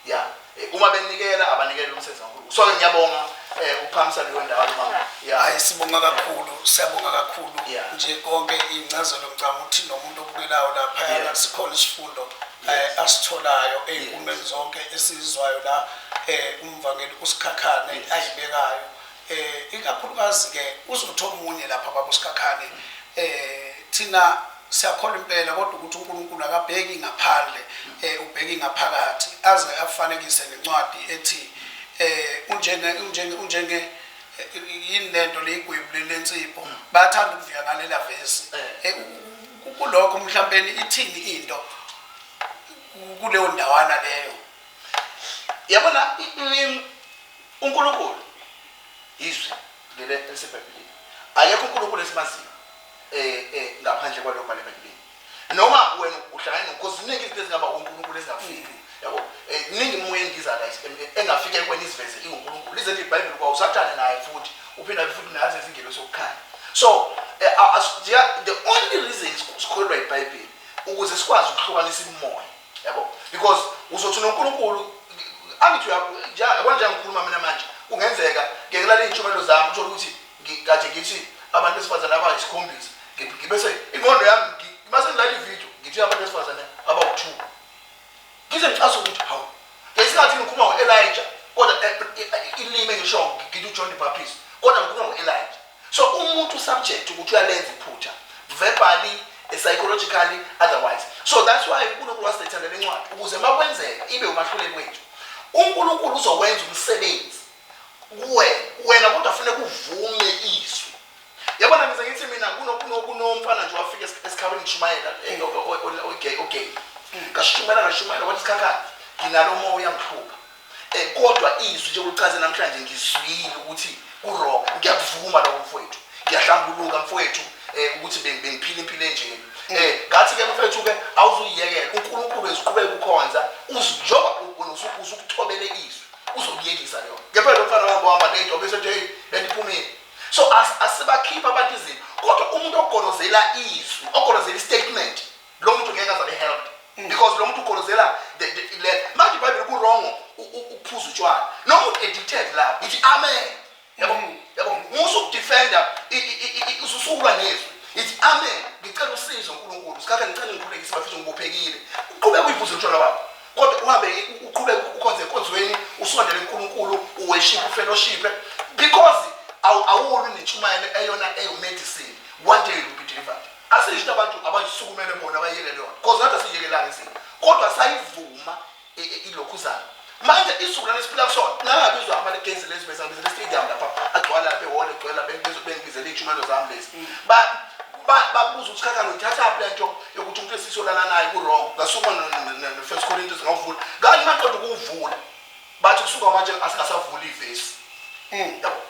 ya eh, uma benikela abanikele umsebenzi kaNkulunkulu so ke ngiyabonga eh, ukuphamisa leyo ndawo mama ya hayi sibonga kakhulu siyabonga kakhulu Yeah. nje konke incazelo ngicabanga ukuthi nomuntu obukelayo lapha Yeah. yeah. sikhona isifundo eh, asitholayo ey'nkundleni zonke esizizwayo la eh, umvangeli usikhakhane ayibekayo eh ikakhulukazi ke uzothi omunye lapha baba uSikhakhane eh thina siyakholwa impela kodwa ukuthi uNkulunkulu akabheki ngaphandle eh ubheki ngaphakathi aze afanekise nencwadi ethi eh unjenge unjenge unjenge eh, yini lento leyigwebu lensipho hmm. bayathanda ukuvika ngalela vesi eh. Eh, kulokho mhlawumbe ithini into kuleyo ndawana leyo yabona UNkulunkulu yiZwi leli eliseBhayibhelini. Akekho uNkulunkulu esimaziyo eh, eh, ngaphandle kwalokho bhala eBhayibhelini. Noma wena uhlangane nokho ziningi izinto ezingaba uNkulunkulu ezingafiki. Yabo? Eh, iningi imimoya endiza la engafika ekweni iziveze inguNkulunkulu. Lize lithi iBhayibheli kwa uSathane naye futhi uphinde futhi nazi izingelo sokukhanya. So eh, the only reason sikholelwa iBhayibheli ukuze sikwazi ukuhlukanisa imimoya yabo because uzothi noNkulunkulu angithi yabo nje ngikhuluma mina manje kungenzeka ngiyekelala izintshumayelo zami uthola ukuthi ngikade ngithi abantu besifazane abayisikhombisa ngibese ingqondo yami ngibase ngilala ivideo ngithi abantu besifazane abawu-two ngize ngicase ukuthi hawu ngesikhathi ngikhuluma ngo-elija kodwa eh, eh, eh, ilimi engisho ngithi ujohn the baptist kodwa ngikhuluma ngo-elija So umuntu subject ukuthi uyalenza iphutha verbally eh, psychologically otherwise so that's why uNkulunkulu wasithanda lencwadi ukuze makwenzeka ibe umahluleli wethu uNkulunkulu uzokwenza umsebenzi kuwe wena kodwa fune kuvume izwi yabona ngize ngithi mina kunomfana nje wafika esikhabeni ngishumayela eh, ogay ogay ngashumayela ngashumayela wathi sikhakhani nginalo moya ngiphupha Eh, kodwa izwi nje ulichaze namhlanje ngizwile ukuthi kurong ngiyakuvuma lokho mfowethu ngiyahlambuluka mfowethu um ukuthi bengiphile impilo enjeni um eh, ngathi-ke mfowethu-ke awuzuyiyekela unkulunkulu eziqhubeka ukhonza njengoba usukuthobele izwi uzokuyekisa leyo ngempela lo mfana wami wahamba nento besethi heyi bendiphumile so asibakhiphi abantu izinto kodwa umuntu ogolozela izwi ogolozela istatement lo muntu ngeke azabe helped mm. because lo muntu ukholozela the the le manje ibhayibheli ku wrong ukuphuza utshwala noma uthi addicted la uthi amen yabo mm. yabo musu ukudefender ususukulwa nezwi ithi amen ngicela usizo uNkulunkulu sikhathi ngicela ngikhulekise bafisa ngibophekile uqhubeka uyiphuza utshwala bakho kodwa uhambe uqhubeka ukhonze enkonzweni usondele uNkulunkulu uweshiphe ufellowship because awulu netshumayelo eyona eyo medicine one day you will be delivered Asisho ukuthi abantu abasukumele bona bayekele yona because nathi asiyekelanga izinto kodwa sayivuma i- i- ilokhuzana manje isizukulwane esiphila kusona ngangabizwa amalekezi lezi bezangibizela istadium lapha agcwala lapha ehholo egcwela bengibizo- bengibizela iy'tshumelo zami lezi Ba- ba- babuza ukuthi kakalo uyithathaphi le nto yokuthi umuntu esisi olala naye kurong ngasukuma nofirst corinthians ngawuvula kanti maqeda ukuwuvula bathi kusuka manje asingasavuli ivesi yabo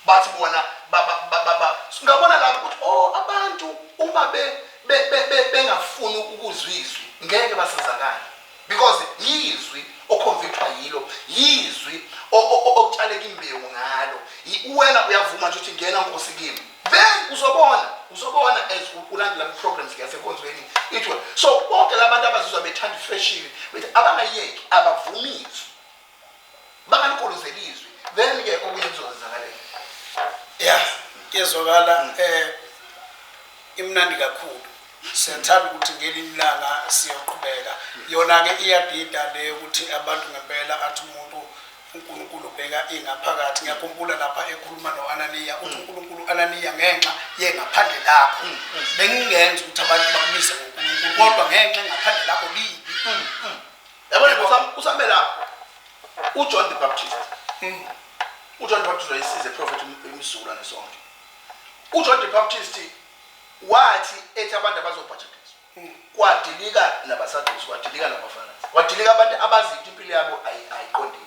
Bathi bona ba, ba, ba, ba, ba. Singabona lapho ukuthi o, abantu uma be, be, be, be, bengafuni ukuzwa izwi, ngeke basizakale. Because yizwi oconvictwa yilo, yizwi o- o- o- okutshaleka imbewu ngalo. Yi- Uwena uyavuma nje ukuthi ngena Nkosi kimi. Then uzobona, uzobona as u- ulandela ama-programs yasenkonzweni ithiwa. So bonke labantu abazizwa bethanda ifeshini, bethi abangayeki, abavumi izwi. bangaligolozeli izwi then ke okunye kuzokwenzakaleka ya kezwakala um eh, imnandi kakhulu siyathanda ukuthi ngelinye ilanga siyoqhubeka yona-ke iyadida le yokuthi abantu ngempela athi umuntu unkulunkulu ubheka ingaphakathi ngiyakhumbula lapha ekhuluma no-ananiya uthi unkulunkulu ananiya ngenxa yengaphandle lakho mm, mm. bengingenza ukuthi abantu bakumise ngonkulunkulu kodwa ngenxa engaphandle lakho libi mm, yabona kusam- kusambe lapho ujohn the baptist Mm. ujohn the baptist wayesize eprofethi emsulwa nesonke ujohn the baptist wathi ethi abantu abazobhajathizwa Mm. kwadilika nabasadusi kwadilika nabafarisi kwadilika abantu abazi ukuthi impilo yabo ayi- ayiqondile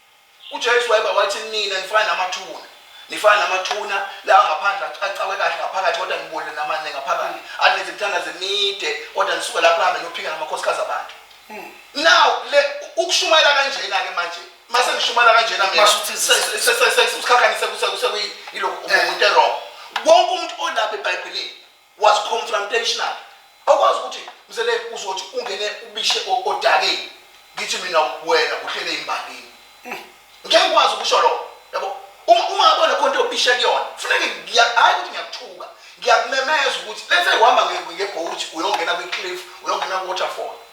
UJesu wayeba wathi, Nina nifana namathuna. Nifana namathuna lawa ngaphandle acakwe kahle ngaphakathi kodwa ngibolile namane ngaphakathi. Aninzi mthandazo emide kodwa nisuke lapho hambe nophika ngamakhosikazi abantu. Hmm. Now le ukushumayela kanjena ke manje mase ngishumayela kanjena mina sesikhakhanise kuse kuse yilokhu umuntu erong. Wonke umuntu olapha eBhayibhelini was confrontational awukwazi ukuthi mzele uzothi ungene ubishe o- odakeni ngithi mina wena uhlele imbangini ngeke ngikwazi ukusho lokho yabo uma uma ngabe khona khona into obishe kuyona kufuneke ngiya- hhayi ukuthi ngiyakuthuka ngiyakumemeza ukuthi lethe uhamba nge- ngebhowuthi uyongena kwi-cliff uyongena ku-waterfall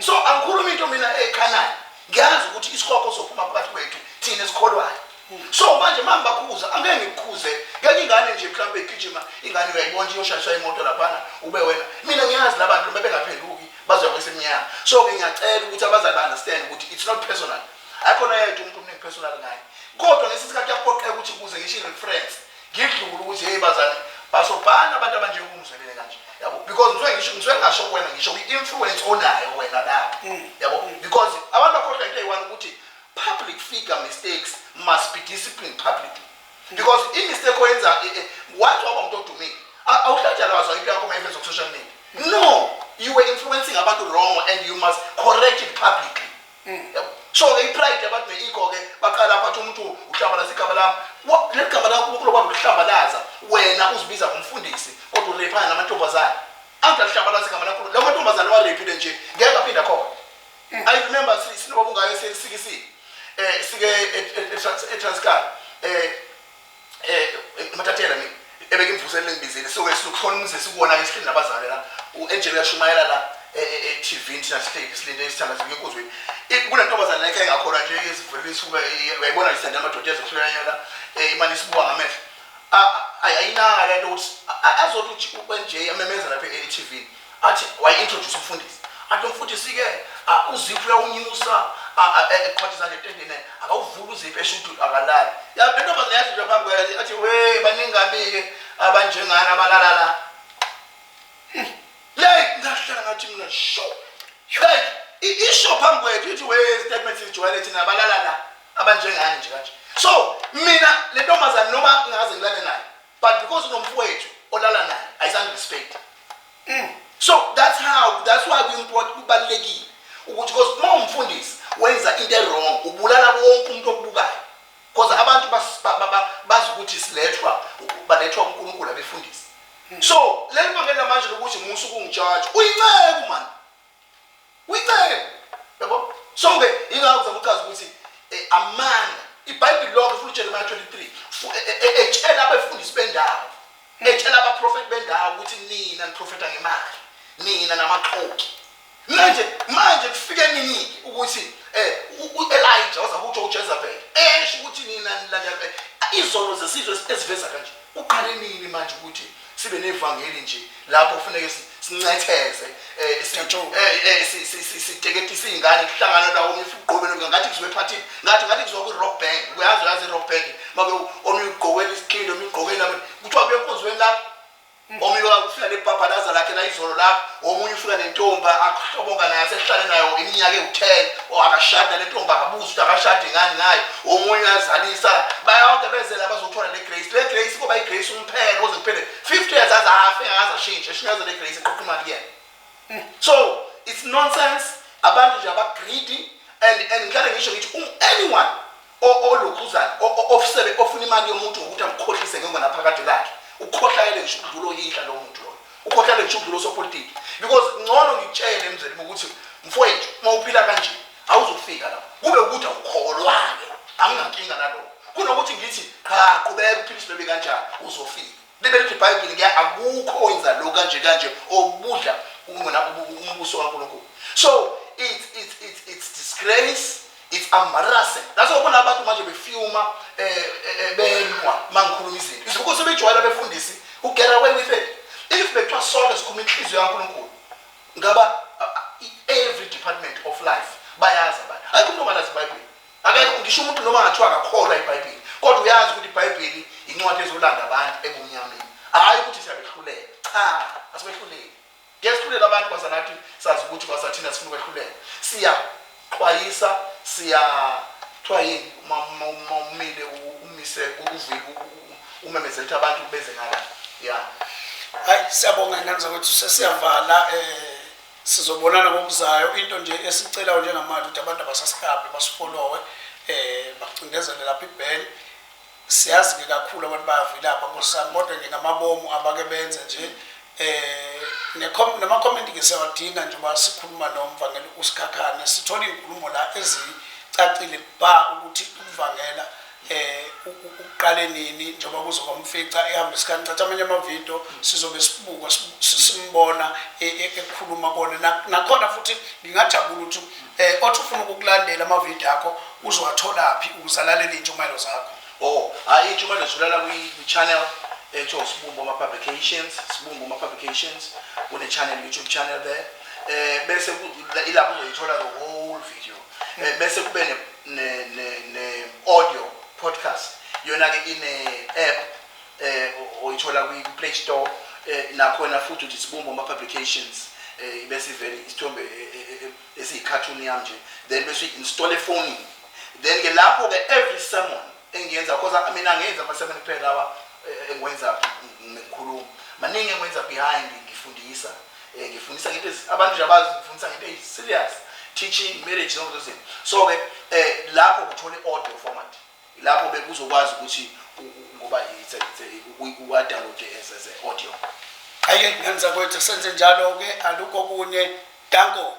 So angikhulumi into mina ekhanayo. Ngiyazi ukuthi isikhokho sophuma phakathi kwethu thina esikholwayo. So manje mama bakhuza angeke ngikukhuze ngenye ingane nje mhlawumbe igijima ingane uyayibona nje yoshayiswa imoto laphana ube wena. Mina ngiyazi labantu noma bengaphenduki bazoya kwesemnyama. So ke ngiyacela ukuthi abazali ba understand ukuthi it's not personal. Akhona yedwa umuntu omningi personal ngaye. Kodwa ngesikhathi yaphoqeka ukuthi ukuze ngisho i-reference Ngidlula ukuthi hey bazali basobhana abantu abanjengoba umzwelele kanje. Yabo because ngizwe ngisho ngizwe ngasho kuwena ngisho kwi-influence onayo wena lapho. Mm. Yabo because abantu bakhohlwa into eyi-one ukuthi public figure mistakes must be disciplined publicly. Mm. Because i-mistake oyenza eh, eh, once waba umuntu odumile awuhlatshalazwa into yakho mayiveza ku-social media. No, you were influencing abantu wrong and you must correct it publicly. Yabo. So ke ipride yabantu ne-ego ke baqala lapho athi umuntu uhlambalaza igama lami. Wa- Leli gama lakho uNkulunkulu wakwazi ukuhlambalaza wena uzibiza ngomfundisi kodwa urephana namantombazane. Angithi alihlambalaza igama lakho. Lawo mantombazane warephile nje ngeke aphinde akhona. I remember si- sinobaba ungayo sisikisile. Eh sike e- e- e- Trans- eTranskal. Eh um mathathela mina ebekimvusele lengibizile so ke sikhona umzi sikuwona ke sihleli nabazali la u-angel uyashumayela la e-tv e-, e-, thina sihleli silinde isithanda sibuye enkuzweni kule ntombazane la ekhaya engakhona nje izivulile isuka uyayibona nje sithanda amadoda ezohlulanyana um eh, imane isibuka ngamehlo ayinaka le nto ukuthi azothi uthi u-nj amemeza lapha e-tv athi wayi-introduce umfundisi athi umfundisi-ke uziphi uyawunyusa eqhwathi zanje etendeni akawuvuli uziphi esho ukuthi akalali lentombazane yathi nje phambi kwakhe athi we baningami-ke abanjengani abalala la hmm. yeyi ngahlala ngathi mina sho yeyi isho phambi kwethu ithi we statement sijwayele thina abalala la abanjengani nje kanje so mina le ntombazane noma ngaze ngilale nayo but because unomfowethu olala naye ayizange respect mm. so that's how that's why kwimport kubalulekile ukuthi because uma umfundisi wenza into ewrong ubulala wonke umuntu okubukayo because abantu bazi ukuthi silethwa balethwa unkulunkulu abefundisi hmm. so leli bangela manje lokuthi musa ukungijaja uyinceku mani Uyincenye. Yabo? So ke ingakho ngizama ukuchaza ukuthi eh, amanga iBhayibheli lonke futhi uJeremiah 23 fu- e- e- e- etshela abefundisi bendawo. Etshela abaprofeti bendawo ukuthi nina niprofeta ngemali. Nina namaxoki. Manje manje kufike nini ukuthi eh u- uElijah waza kutsho uJezebel esho ukuthi nina nilandela izono zesizwe esiveza kanje. Uqale nini manje ukuthi sibe nevangeli nje lapho kufuneke sincetheze eh, eh, eh, siteketise iy'ngane kuhlangana lawo omunye ugqokele ngathi kuzoba ephathini ngathi ngathi kuzoba kwi-rock bank uyazi uyazi i-rock bank make omunye ugqokele isiqili omunye ugqokele abanye kuthiwa kuye enkonzweni lapho mm. omunye ufika nebhabhalaza lakhe la izolo lapho omunye ufika nentomba ahloboka naye asehlale nayo iminyaka ewu-ten or akashadi nale ntomba akabuzi ukuthi akashadi ngani ngayo omunye uyazalisa bayonke bezela bazothola le grace le grace kuba igrace kuphela kuze kuphele 50 years aze afe akaze ashintshe eshinyazele igrace eqoqa imali kuyena so it's nonsense abantu nje abagreedy and and ngihlale ngisho ngithi um anyone olokhuzana ofusebe ofuna imali yomuntu ngokuthi amkhohlise ngengonaphakade lakhe ukhohlakele ngisho ukudlula oyihla lowo muntu loyo ukhohlakele ngisho ukudlula osopolitiki because ngcono ngitshele emzweni ukuthi mfowethu uma uphila kanje awuzukufika lapho kube ukuthi awukholwa-ke anginankinga nalokho kunokuthi ngithi qha qhubeka uphilisa bebe kanjani uzofika libe lithi ibhayibheli ke akukho wenza lo kanje kanje obudla ukungena umbuso kankulunkulu so it's, it's, it's, it's disgrace it's embarrassing that's why ubona abantu manje befyuma eh, eh, eh benwa mangikhuluma izinto izibuko sebejwayela befundisi ugera away with it if bekuthiwa sonke sikhuluma inhliziyo kankulunkulu ngaba every department of life bayazi abantu hayi umuntu ongalazi ibhayibheli akekho ngisho umuntu noma ngathiwa akakholwa ibhayibheli kodwa uyazi ukuthi ibhayibheli incwadi ezolanda abantu ebumnyameni hhayi ukuthi siyabehlulela cha asibehluleli ngiyesihlulela abantu kwasanathi sazi ukuthi kwasathina sifuna ukwehluleka siya Xwayisa, Siya kuthiwa yini uma uma umile umise kuvika umemezela ukuthi abantu beze ngala. Ya. Hayi siyabonga ngane zakwethu sesiyavala eh sizobonana ngokuzayo into nje esicelayo njengamanje ukuthi abantu abasasikabi basifolowe eh bacindezele lapha ibheni Siyazi ke kakhulu abantu bayavilapha nkosami kodwa nje ngamabomu abake benze nje um nama comment ke siyawadinga nje uba sikhuluma nomvangeli usikhakhane sithola iy'nkulumo la ezicacile ba ukuthi ukuvangela eh uqale nini njengoba kuzoba umfica ehamba isikhathi thatha amanye amavidiyo sizobe sibuka simbona e, e, ekhuluma kona nakhona futhi ngingajabula ukuthi Eh othi ufuna ukukulandela ama video akho uzowatholaphi ukuzalalela intshumayelo zakho. Oh, hayi intshumayelo zulala kwi channel ethiwa Sibumbu ama publications, Sibumbu ama publications. Kune channel YouTube channel there. Eh bese ilapho uzoyithola the whole video. Eh bese kube ne ne ne audio podcast. Yona ke ine app eh oyithola kwi Play Store eh nakhona futhi uthi sibumbo ama publications eh bese ivele isithombe eh, eh, eh, esiyi cartoon yam nje then bese install efonini then ke lapho ke every sermon engiyenza because mina ngenza ama sermon kuphela lawa engwenza ngikhuluma maningi engwenza behind ngifundisa ngifundisa ngento abantu nje abazi ngifundisa ngento eyi serious teaching marriage zonke lezo zinto so ke eh lapho kuthola i-audio format Lapho ke uzokwazi ukuthi ngoba it's a, it's a, uwadownload as, as a audio. Aye ngani zakwethu senze njalo ke alukho kunye danko.